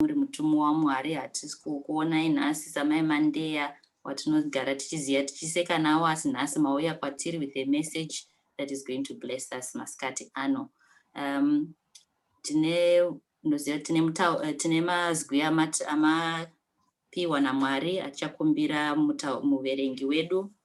muri mutumwa waMwari hatisi kukuonai nhasi samai Mandeya watinogara tichiziva tichiseka nawo asi nhasi mauya kwatiri with a message that is going to bless us masikati ano um, tine ndoziva tine, eh, tine mazwi amapiwa naMwari achakumbira muverengi wedu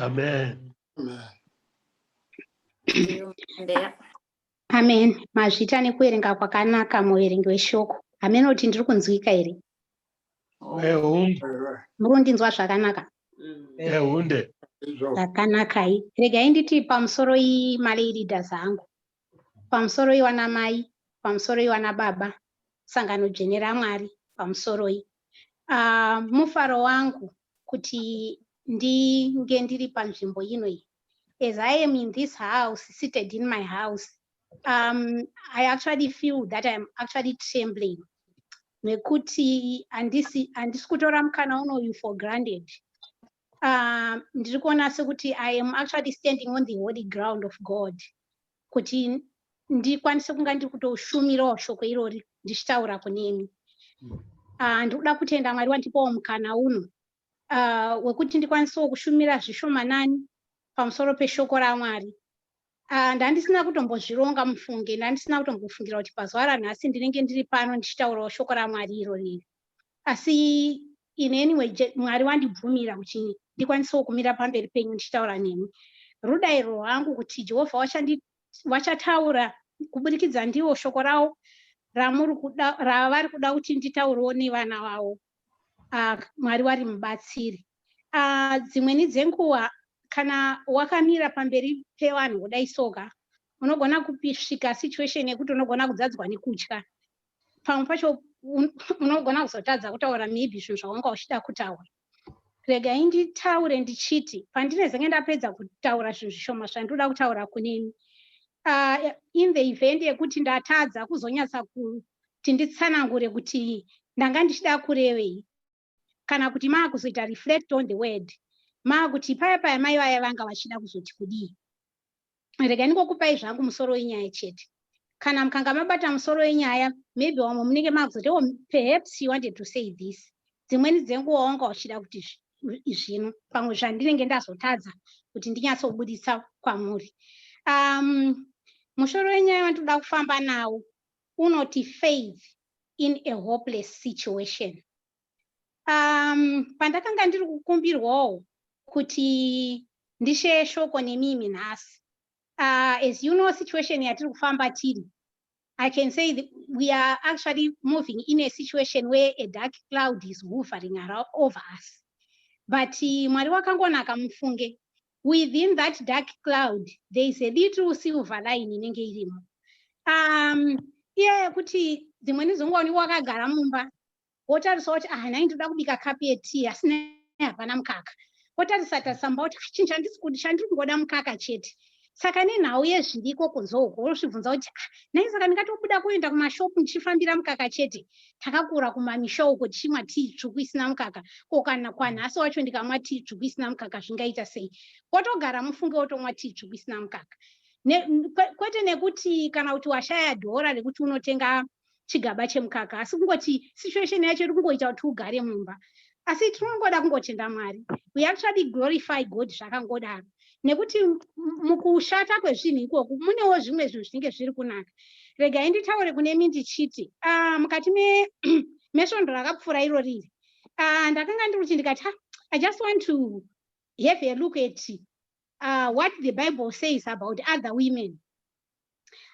Amen. Amen. Mazvita nekuverenga kwakanaka muverengi weshoko. Amen kuti ndiri kunzwika here? Muri kundinzwa zvakanaka? Ehunde. Zvakanakai. Regai nditi pamusoro iyi malay leaders angu. pamusoroi wanamai pamusoroi wanababa sangano dzvene ramwari pamusoroi uh, ah, mufaro wangu kuti ndinge ndiri panzvimbo ino iyi as i am in this house seated in my house um, i actually feel that iam actually trembling nekuti handisi kutora mukana unoyu for granted Uh, ndiri kuona sekuti i am actually standing on the holy ground of god kuti ndikwanise kunga ndiri kutoshumirawo shoko irori ndichitaura kunemi uh, ndiri kuda kutenda mwari wandipawo mukana uno uh, wekuti ndikwanisewo kushumira zvishomanani pamusoro peshoko ramwari Ah, ndandisina kutombozvironga mufunge ndandisina kutombofungira kuti pazuva ranhasi ndinenge ndiri pano ndichitaurawo shoko ramwari iro riri asi in any way mwari wandibvumira kuti ndikwanisewo kumira pamberi penyu ndichitaura nemi rudairo rwangu kuti jehovha wachataura kuburikidza ndiwo shoko rawo ravari kuda kuti nditaurewo nevana vavo uh, mwari wari mubatsiri uh, dzimweni dzenguva kana wakamira pamberi pevanhu kudai soka unogona kusvika situation yekuti unogona kudzadzwa nekutya pamwe pacho unogona kuzotadza kutaura maybe zvinhu zvawanga uchida kutaura regai nditaure ndichiti pandinezenge ndapedza kutaura zvinhu zvishoma zvandoda kutaura kunini uh, in the event yekuti ndatadza kuzonyatsa kuti nditsanangure kuti ndanga ndichida kurevei kana kuti maakuzoita reflect on the word maakuti paya paya mai vaya vanga vachida kuzoti kudii rega ndingokupai zvangu musoro wenyaya chete kana mukanga mabata musoro wenyaya maybe wamwe munenge maakuzoti o oh, perhaps you wanted to say this dzimweni dzenguva wanga uchida kuti zvino pamwe zvandinenge ndazotadza kuti ndinyatsobuditsa kwamuri um, mushoro wenyaya wandinoda kufamba nawo unoti faith in a hopeless situation um, pandakanga ndiri kukumbirwawo kuti ndisheye shoko nemimi nhasi uh, as you know situation yatiri kufamba tiri i can say that we are actually moving in a situation where a dark cloud is hovering over us but uh, mwari wakangonaka mufunge within that dark cloud there is a little silver line inenge irimo um iya yekuti dzimwe nizonga unenge wakagara mumba wotarisa kuti ah nhai ndoda kubika kapi yetii asi nai hapana mukaka wotarisa tasamba kuti ah, chinhu chandisi kuti chandiri kungoda mukaka chete saka nenhau yezviriko kunzouko wosvibvunza kuti ah, nai saka ndingatobuda kuenda kumashopu ndichifambira mukaka chete takakura kumamisha uko tichimwa tii tsvuku isina mukaka ko kana kwanhasi wacho ndikamwa tii tsvuku isina mukaka zvingaita sei wotogara mufunge wotomwa tii tsvuku isina mukaka ne, kwete nekuti kana kuti washaya dhora rekuti unotenga chigaba chemukaka asi kungoti situation yacho iri kungoita kuti ugare mumba asi tinongoda kungotenda mwari we actually glorify god zvakangodaro nekuti mukushata kwezvinhu ikoku munewo zvimwe zvinhu zvinenge zviri kunaka regai nditaure kune mi ndichiti ah, mukati mesvondo rakapfuura iro riri ah, ndakanga ndiri kuti ndikati ah, i just want to have a look at uh, what the bible says about other women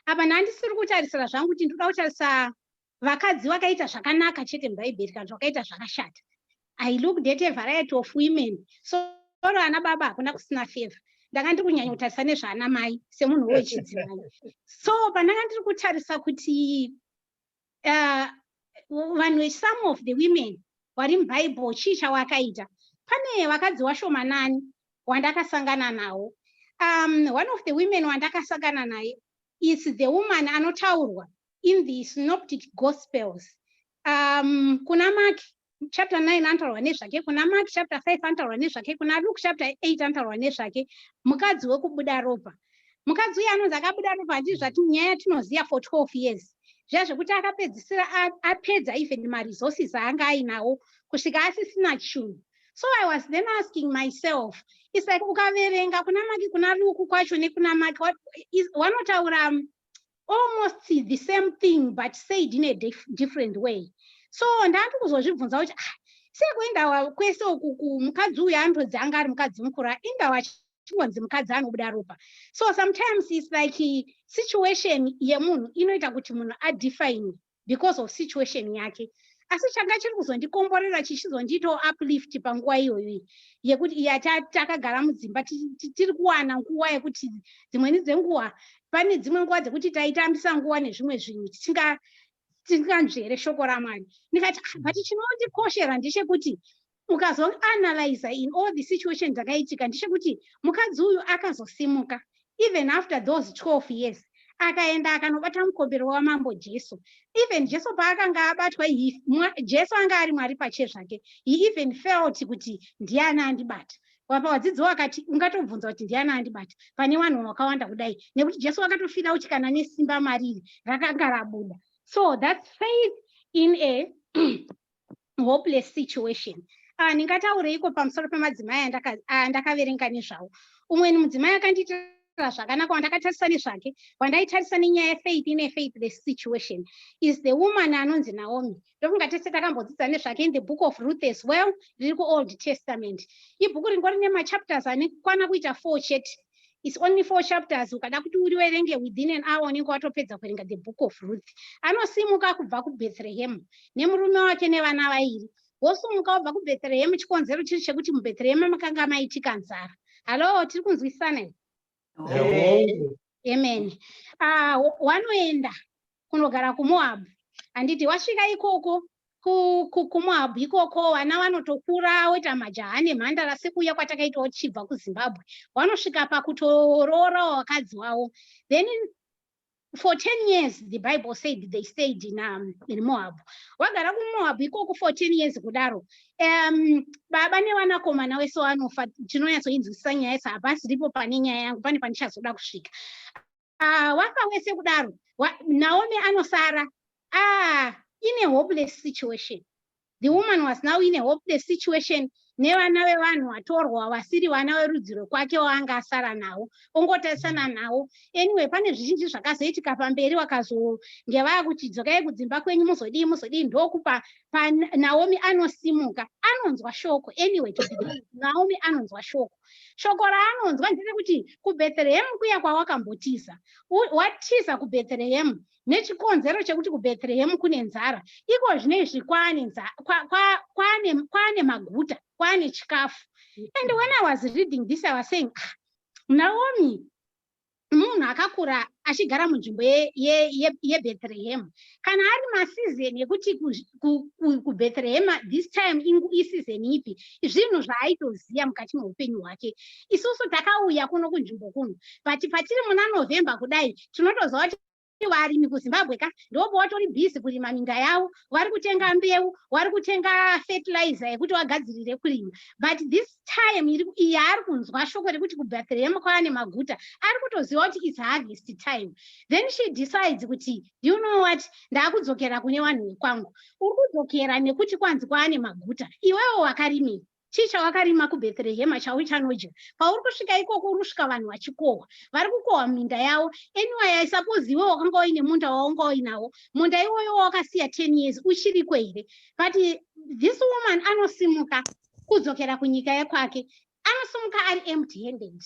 apa nandisiri kutarisira zvangu kuti ndikuda kutarisa vakadzi vakaita zvakanaka chete mubhaibheri kana vakaita zvakashata i looked at a variety of women so oro ana baba hakuna kusina favor ndanga ndiri kunyanya kutarisa nezvaana mai semunhu wechidzimai so pandanga ndiri kutarisa kuti uh, vanhu uh, vesome of the women wari mubhaibheri chii chawakaita pane vakadzi washomanani wandakasangana nawo um, one of the women wandakasangana naye is the woman anotaurwa in the synoptic gospels um, kuna mark chapter 9 anotaurwa nezvake kuna mark chapter 5 anotaurwa nezvake kuna luke chapter 8 anotaurwa nezvake mukadzi wekubuda ropa mukadzi uye anonzi akabuda ropa handii zvati nyaya yatinoziva for 12 years zviya zvekuti akapedzisira apedza even maresources aanga ainawo kusvika asisina chunhu so i was then asking myself is like ukaverenga kuna maki kuna luku kwacho nekuna maki wanotaura almost the same thing but said in a dif different way so ndandi kuzozvibvunza kuti ah, sekuendawa kwese uku kumukadzi uyu anotodzi anga ari mukadzi mukuru aindawa chingonzi mukadzi anobuda ropa so sometimes its like situation yemunhu inoita kuti munhu adefine because of situation yake asi changa chiri kuzondikomborera chichizondiitawo uplift panguva iyoyo yekuti iya takagara mudzimba tiri kuwana nguva yekuti dzimweni dzenguva pane dzimwe nguva dzekuti taitambisa nguva nezvimwe zvinhu tisinganzvere shoko ramwari ndikati ah, but chinondikoshera ndechekuti ukazoanalyzer in all the situation dzakaitika ndechekuti mukadzi uyu akazosimuka even after those 12 years akaenda akanobata mukombero wamambo jesu even jesu paakanga abatwa jesu anga ari mwari pache zvake he even felt kuti ndiani andibata vapa vadzidzi wakati ungatobvunza kuti ndiani andibata pane vanhu vakawanda kudai nekuti jesu wakatofira kuti kana nesimba mariri rakanga rabuda so thats faith in a hopeless situation ah, ndingataureiko pamusoro pemadzimai andakaverenga ah, nezvawo umwe ni mudzimai akandiitira zvakanaka wandakatarisa nezvake wandaitarisa nenyaya yefaith ine faithless situation is the woman anonzi naomi ndofunga tese takambodzidza nezvake in the book of ruth as well riri kuold testament ibhuku ringori nemachapters ane kwana kuita four chete It's only four chapters ukada kuti uriverenge within an hour unenge watopedza kuverenga the book of Ruth. Anosimuka kubva kuBethlehem nemurume wake nevana vairi. Vosumuka wabva kuBethlehem chikonzero chiri chekuti muBethlehem makanga maitika nzara. Hello, tiri kunzwisisana here? Amen. Ah, wanoenda kunogara kumoab handiti wasvika ikoko kumoab ikoko vana vanotokura woita majaha nemhandara sekuuya kwatakaita wochibva kuzimbabwe wanosvika pakutoroorawo vakadzi wavo then for 10 years the bible said they stayed in, um, in moab wagara kumoab ikoko for 10 years kudaro um, baba nevanakomana wese wanofa tinonyatsoinzwisisa nyaya yese hapasiripo pane nyaya yangu pane pandichazoda kusvika ah, wafa wese kudaro naomi anosara ah, in a hopeless situation the woman was now in a hopeless situation nevana vevanhu vatorwa vasiri vana verudzi rwekwake waanga asara nawo ongotarisana nawo anyway pane zvizhinji zvakazoitika pamberi wakazonge vava kuti dzokai kudzimba kwenyu muzodii muzodii ndokupa panaomi anosimuka anonzwa shoko anyway naomi anonzwa shoko Shoko raanonzwa nderekuti kuBethlehemu kuya kwawakambotiza. Watiza kuBethlehemu nechikonzero chekuti kuBethlehemu kune nzara. Iko zvino izvi kwaane nzara, kwa, kwa, kwaane, kwaane maguta, kwaane chikafu. And when I was reading this, I was saying, ah, Naomi, munhu akakura achigara munzvimbo yebethlehema kana ari masizeni ekuti kubethlehema this time isizeni ipi zvinhu zvaaitoziva mukati meupenyu hwake isusu takauya kuno kunzvimbo kuno but patiri muna november kudai tinotoziva kuti varimi kuzimbabwe ka ndopo watori busy kurima minda yavo vari kutenga mbeu wari kutenga fertilizer yekuti wagadzirire kurima but this time iyi ari kunzwa shoko rekuti kubethlehem kwava nemaguta ari kutoziva kuti its harvest time then she decides kuti you know what ndaakudzokera kune vanhu vekwangu uri kudzokera nekuti kwanzi kwava nemaguta iwewo wakarimira Chii chawakarima kuBhetherehema chauchanodya? Pauri kusvika ikoko uri kusvika vanhu vachikohwa. Vari kukohwa muminda yavo. Anyway, I suppose iwe wakanga uine munda wawanga uinawo. Munda iwoyo wawakasiya 10 years uchiriko here? But this woman anosimuka kudzokera kunyika yekwake. Anosimuka ari empty handed.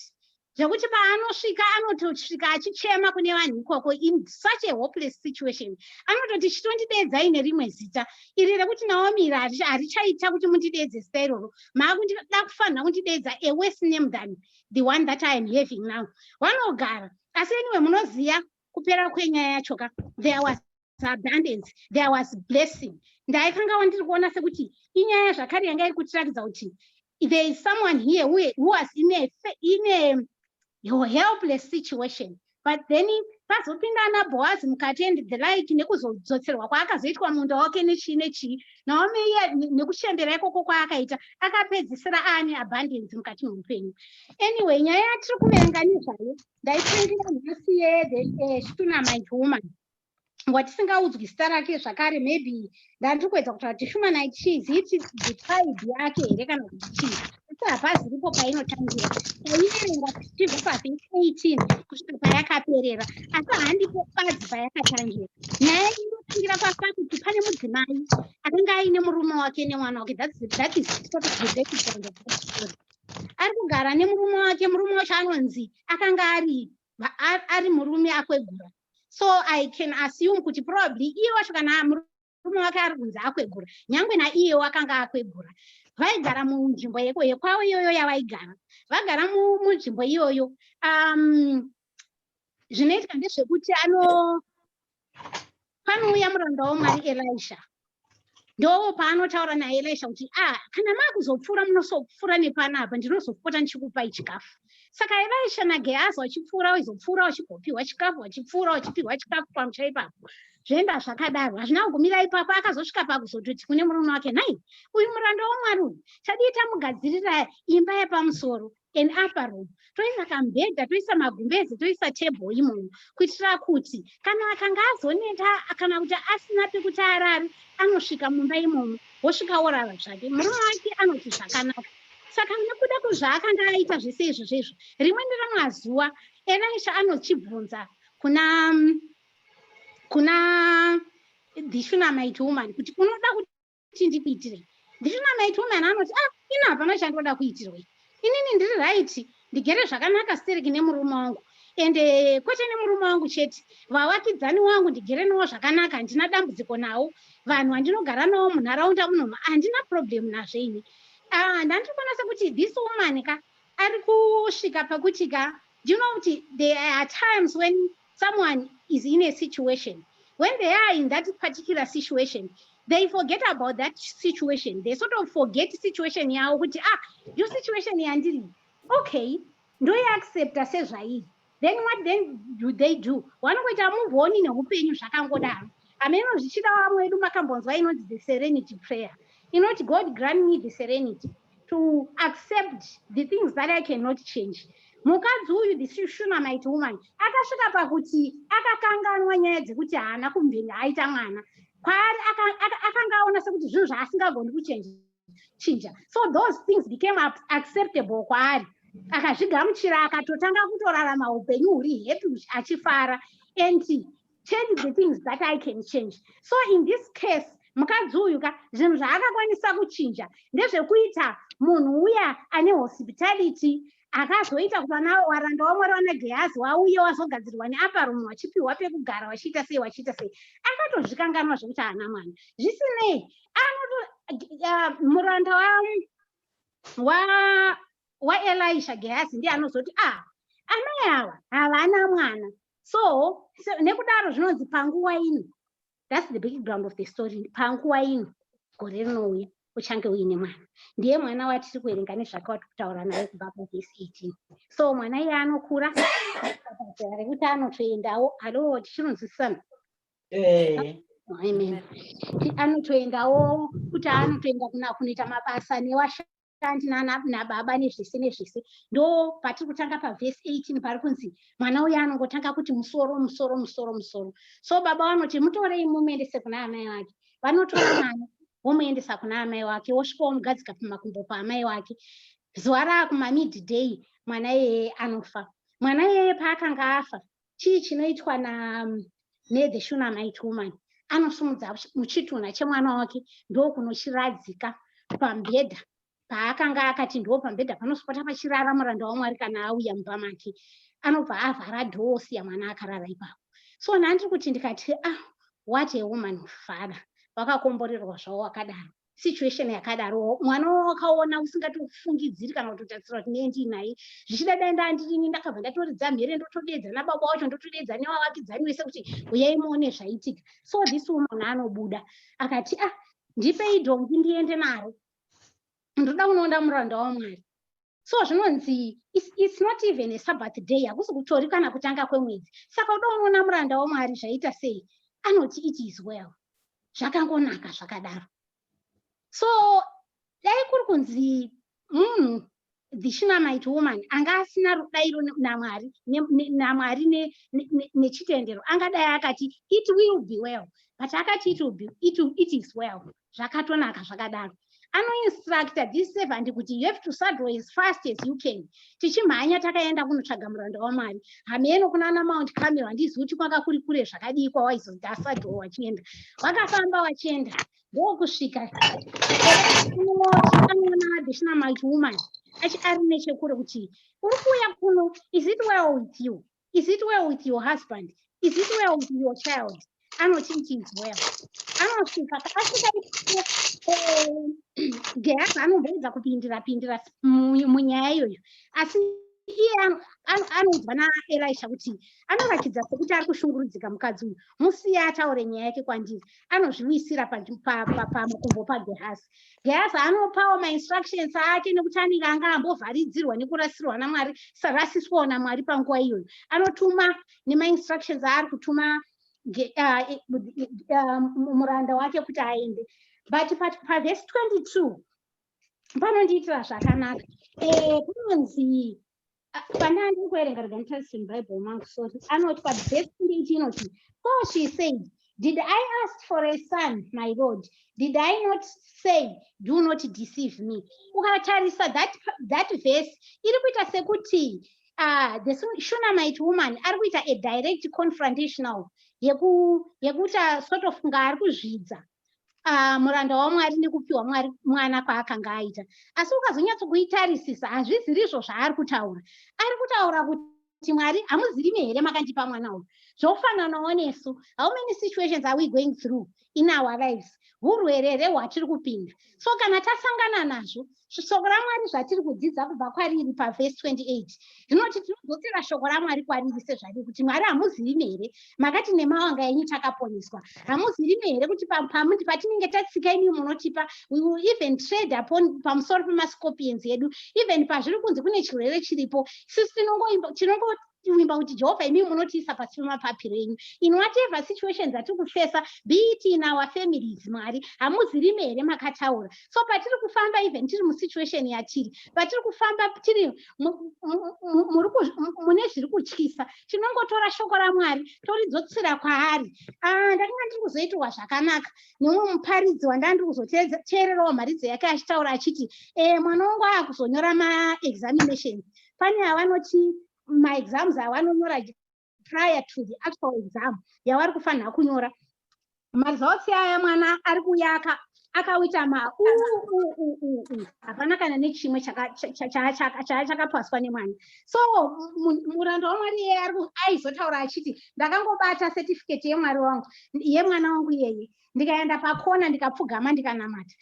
zvekuti paanosvika anotosvika achichema kune vanhu ikoko in such a hopeless situation anototi chitondideedzai nerimwe zita iri rekuti naomi iri harichaita kuti mundideedze zita iroro maakundida kufanira kundideedza a worse name than the one that i am having now vanogara asi anyway munoziva kupera kwenyaya yacho ka there was abundance there was blessing ndaikangawa ndiri kuona sekuti inyaya zvakare yanga iri kutirakidza kuti there is someone here who, who was in a, in a helpless situation but then pazopinda ana boazi mukati and the like nekuzodzotserwa kwaakazoitwa munda wake nechii nechii naomi iye nekuchembera ikoko kwaakaita akapedzisira aane abundance mukati meupenyu anyway nyaya yatiri kuverenga nezvayo ndaipindira nhasi yethe eh, stuna mind woman watisingaudzwi zita rake zvakare maybe ndandiri kuedza kutaura kuti human it cheese it is the tribe yake here kana kuti chii asi hapazi ripo painotangira paiverenga tichibva pavhesi 18 kusvika payakaperera asi handipo bazi payakatangira nyaya inotangira pafa kuti pane mudzimai akanga aine murume wake nemwana wake that is, that is sort of the background of the story ari kugara nemurume wake murume wacho anonzi akanga ari ari murume akwegura so i can assume kuti probably iye wacho kana murume wake ari kunzi akwegura nyangwe naiye wakanga akwegura vaigara munzvimbo yeko yekwavo iyoyo yavaigara vagara munzvimbo iyoyo um, zvinoitika ndezvekuti ano panouya muranda wamwari elisha ndoo paanotaura naelisha kuti a ah, kana maakuzopfuura munosopfuura nepanapa ndinozopota ndichikupai chikafu saka elisha nagehazi vachipfuura vaizopfuura vachigopiwa chikafu vachipfuura vachipiwa chikafu pamusha ipapo zvoenda zvakadaro hazvina kugumira ipapo akazosvika pakuzototi kune murume wake nhai uyu muranda wamwari uyu tadii tamugadzirira imba yepamusoro an upper room toisa kambhedha toisa magumbeze toisa table imomo kuitira kuti kana akanga azoneta kana kuti asina pekuti arari anosvika mumba imomo wosvika worara zvake murume wake anoti zvakanaka saka nekuda kwezvaakanga aita zvese izvozvo izvo rimwe neramazuva elisha anochibvunza kuna kuna the shunamite woman kuti unoda kuti kuti ndikuitirei ndiri namai tomani anoti a ah, ini hapana chandoda kuitirwei inini ndiri raiti ndigere zvakanaka stereki nemurume wangu ende eh, kwete nemurume wangu chete vavakidzani wangu ndigere nawo zvakanaka handina dambudziko nawo vanhu vandinogara nawo munharaunda munoma handina problemu nazvo ini ah, ndandiri kuona sekuti this woman ka ari kusvika pakuti ka do you know kuti there are times when someone is in a situation when they are in that particular situation they forget about that situation they sort of forget situation yavo kuti ah yo situation yandiri okay ndoiaccepta sezvairi then what then do they do wanongoita muvoni neupenyu zvakangodaro ameno zvichida vamwe vedu makambonzwa inonzi the serenity prayer inoti god grant me the serenity to accept the things that i cannot change mukadzi uyu this shunamite woman akasvika pakuti akakanganwa nyaya dzekuti haana kumvenge aita mwana kwaari akanga aona sekuti zvinhu zvaasingagoni kuchenja chinja so those things became acceptable kwaari akazvigamuchira akatotanga kutorarama upenyu huri happy achifara and change the things that i can change so in this case mukadzi uyu ka zvinhu zvaakakwanisa kuchinja ndezvekuita munhu uya ane hospitality akazoita kuvana waranda wamwari wana gehazi wauye wazogadzirwa neaparomu wachipiwa pekugara wachiita sei wachiita sei akatozvikanganwa zvekuti haana mwana zvisinei anoto uh, muranda waelisha wa, wa gehazi ndiye anozoti a ah, amai awa havana mwana so nekudaro zvinonzi panguva ino thats the background of the story panguva ino gore rinouya uchange uine mwana ndiye mwana watiri kuverenga nezvake wati kutaura naye kubva pavhesi 18 so mwana iye anokura rekuti anotoendawo alo tichinonzwisisana eh. anotoendawo kuti anotoenda kunoita mabasa newasha aunt nana nababa nezvese nezvese ndo patiri kutanga pavhesi 18 pari kunzi mwana uya anongotanga kuti musoro musoro musoro musoro so baba vanoti mutorei mumuendese kuna amai vake vanotora mwana womuendesa kuna amai wake wosvika womugadzika pamakumbo paamai wake zuva raakumamidday mwana iyeye anofa mwana iyeye paakanga afa chii chinoitwa na nethe shunamite woman anosumudza muchitunha chemwana wake ndokunochiradzika pambhedha paakanga akati ndo pambhedha panosopota pachirara muranda wamwari kana auya mumba make anobva avhara dhoo siya mwana akarara ipapo so nandiri kuti ndikati ah what a woman of father wakakomborerwa zvavo wakadaro situation yakadaro mwana wakaona usingatofungidziri kana kutotarisira kuti nei ndiinai zvichida dai ndaa ndirini ndakabva ndatoridza mhere ndotodeedza nababa wacho ndotodeedza nevavakidzani wese kuti uyai muone zvaitika so this woman anobuda akati ah ndipei dhongi ndiende naro ndoda kunoonda muranda wamwari so zvinonzi it's, it's not even a sabbath day hakusi kutori kana kutanga kwemwedzi saka uda unoona muranda wamwari zvaita sei anoti it is well zvakangonaka zvakadaro so dai kuri kunzi munhu the shinamite woman anga asina rudairo namwari namwari nechitendero angadai akati it will be well but akati it, will be, it, it is well zvakatonaka zvakadaro anoinstructa this servant kuti you have to saddle as fast as you can tichimhanya takaenda kunotsvaga muranda wamwari hameno kuna ana mount camel handizivi kuti kwanga kuri kure zvakadii kwawaizonzi asaddle wachienda vakafamba vachienda ndokusvika anoona additional multi woman achi ari nechekure kuti uri kuuya kuno is it well with you is it well with your husband is it well with your child anoti it is well anosvika asvika gehazi eh, anomboedza kupindira pindira munyaya iyoyo asi iye anoudzwa naelisha kuti anoratidza sekuti ari kushungurudzika mukadzi uyu musiya ataure nyaya yake kwandiri anozviwisira pamakumbo pagehazi Yes, anopawo mainstructions ake nekuti anenge anga ambovharidzirwa nekurasirwa naMwari, sarasiswawo naMwari panguva iyoyo. Anotuma nemainstructions aari kutuma uh, uh, muranda wake kuti aende. But pavhesi 22 panondiitira zvakanaka. Eh, kunonzi pane andiri kuerenga rega nditarise mubible mangu sorry anoti padevesi 28 inoti so she said did i ask for a son my lord did i not say do not deceive me ukatarisa that, that verse iri kuita sekuti uh, the shunamite woman ari kuita a direct confrontational yekuita sort of kunga ari kuzvidza uh, muranda wamwari nekupiwa mwari mwana kwaakanga aita asi ukazonyatsokuitarisisa hazvizirizvo zvaari kutaura ari kutaura kuti mwari hamuzirimi here makandipa mwana uyu zvofananawo nesu how many situations are we going through in our lives urwere here hwatiri kupinda so kana tasangana nazvo shoko ramwari zvatiri kudzidza kubva kwariri pavhesi 28 rinoti tinodzosera shoko ramwari kwariri sezvariri kuti mwari hamuzivime here makati nemawanga enyu takaponeswa hamuzivime here kuti pamuti patinenge tatsika imi munotipa we will even trade upon pamusoro pemascorpions edu even pazviri kunzi kune chirwere chiripo sisi tinongoimba tinongo tivimba kuti jehovha imimi munotiisa pasi pemapapiro enyu in whatever situations atiri kufesa be it in our families mwari hamuzirime here makataura so patiri kufamba even tiri musituation yatiri patiri kufamba tiri mune zviri kutyisa tinongotora shoko ramwari toridzotsira kwaari ah, ndakanga ndiri kuzoitirwa zvakanaka nemumwe muparidzi wandanga ndiri kuzoteererawo mharidzo yake achitaura achiti eh, mwana wangu aakuzonyora maexaminations pane avanoti maexams avanonyora prior to the actual exam yavari kufanira kunyora maresults aya mwana ari kuyaka akawita ma hapana kana nechimwe chaachakapaswa nemwana so muranda wamwari iyeye aizotaura achiti ndakangobata certificate yemwari wangu yemwana wangu iyeye ndikaenda pakona ndikapfugama ndikanamata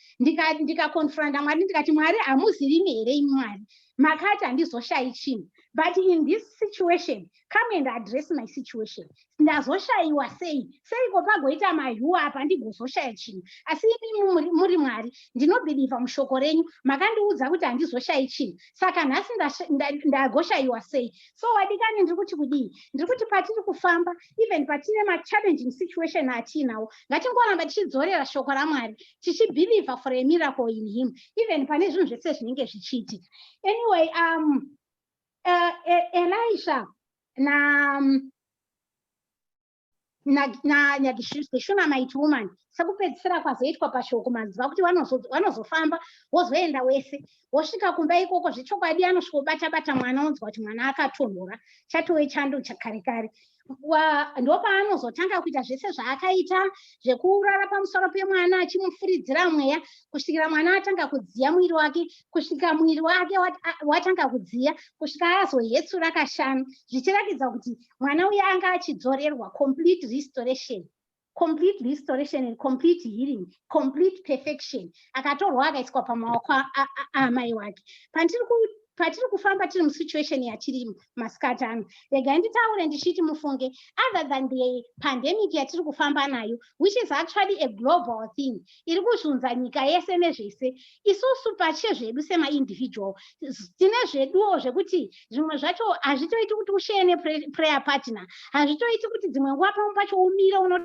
ndikakonfronta ndika mwari ndikati mwari hamuzivimi here imi mwari makati handizoshayi chinhu but in this situation come and address my situation ndazoshayiwa sei seiko pagoita mahuwa apa ndigozoshaya chinhu asi imi muri mwari ndinobhilivha mushoko renyu makandiudza kuti handizoshayi chinhu saka nhasi ndagoshayiwa sei so wadikani ndiri kuti kudii ndiri kuti patiri kufamba even patine machallenging situation atiinawo ngatingoramba tichidzorera shoko ramwari tichibhilivha for a miracle in him even pane zvinhu zvese zvinenge zvichiitika anyway um uh, e, elisha na um, nagishuna might woman sekupedzisira kwazoitwa pashoko maziva kuti wanozofamba wozoenda wese wosvika kumba ikoko zvechokwadi anosvikobata bata mwana onzwa kuti mwana akatonhora chatove chando chakare kare ndopaanozotanga kuita zvese zvaakaita zvekurara pamusoro pemwana achimufuridzira mweya kusvikira mwana atanga kudziya muviri wake kusvika muviri wake watanga kudziya kusvika azohetsura kashanu zvichiratidza kuti mwana uya anga achidzorerwa complete restoration complete restoration and complete healing complete perfection akatorwa akaiswa pamaoko aamai wake patiri kufamba tiri musituation yatiri masikati ano regai nditaure ndichiti mufunge other than the pandemic yatiri kufamba nayo which is actually a global thing iri kuzunza nyika yese nezvese isusu pache zvedu semaindividual tine zveduwo zvekuti zvimwe zvacho hazvitoiti kuti usheye neprayer partner hazvitoiti kuti dzimwe nguva pamwe pacho umire uno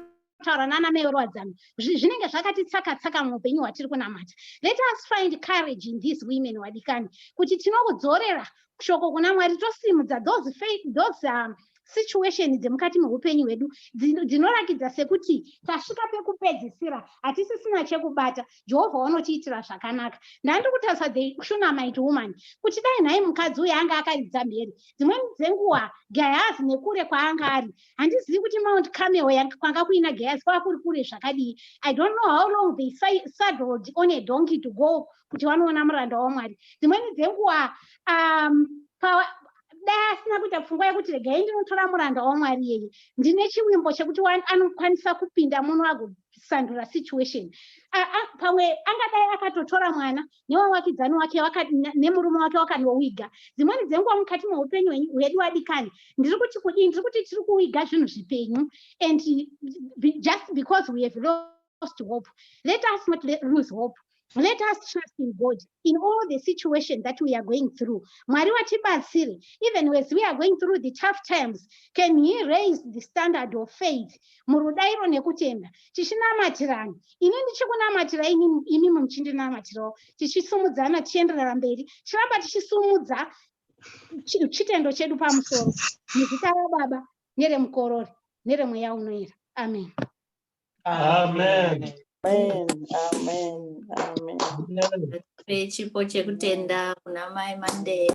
taura nana meero wadzano zvinenge zvakati tsaka tsaka muupenyu hwatiri kunamata let us find courage in these women wadikani kuti tinokudzorera shoko kuna mwari tosimudza those, faith, those um, situation dzemukati meupenyu hwedu dzinorakidza sekuti tasvika pekupedzisira hatisisina chekubata jehovha wanotiitira zvakanaka ndandiri kutarisa the shunamit woman kuti dai nhai mukadzi uyo anga akaridza mhere dzimweni dzenguva gehazi nekure kwaanga ari handizivi kuti mount camel kwanga kuina gehazi kwava kuri kure zvakadii i don't know how long they saddled on a donkey to go kuti vanoona muranda wamwari dzimweni dzenguva um, dai asina kuita pfungwa yekuti regai ndinotora muranda wamwari yeye ndine chivimbo chekuti anokwanisa kupinda muno agosandura situation pamwe angadai akatotora mwana newawakidzani wake nemurume wake wakanowiga dzimweni dzenguva mukati meupenyu hwedu wadikani ndiri kuti kudii ndiri kuti tiri kuwiga zvinhu zvipenyu and just because we have lost hope. Let us not lose hope. Let us trust in God in all the situation that we are going through. Mwari watibatsire, even as we are going through the tough times, can he raise the standard of faith? Murudairo nekutenda. Tichinamatirawo. Ini ndichikunamatira ini imi muchindinamatirawo. Tichisumudzana tichienderera mberi. Tiramba tichisumudza chitendo chedu pamusoro. Muzita raBaba neremukorori neremweya unoera. Amen. Amen. Amen. Amen. Amen. Amen. Chipo chekutenda kuna mai Monday.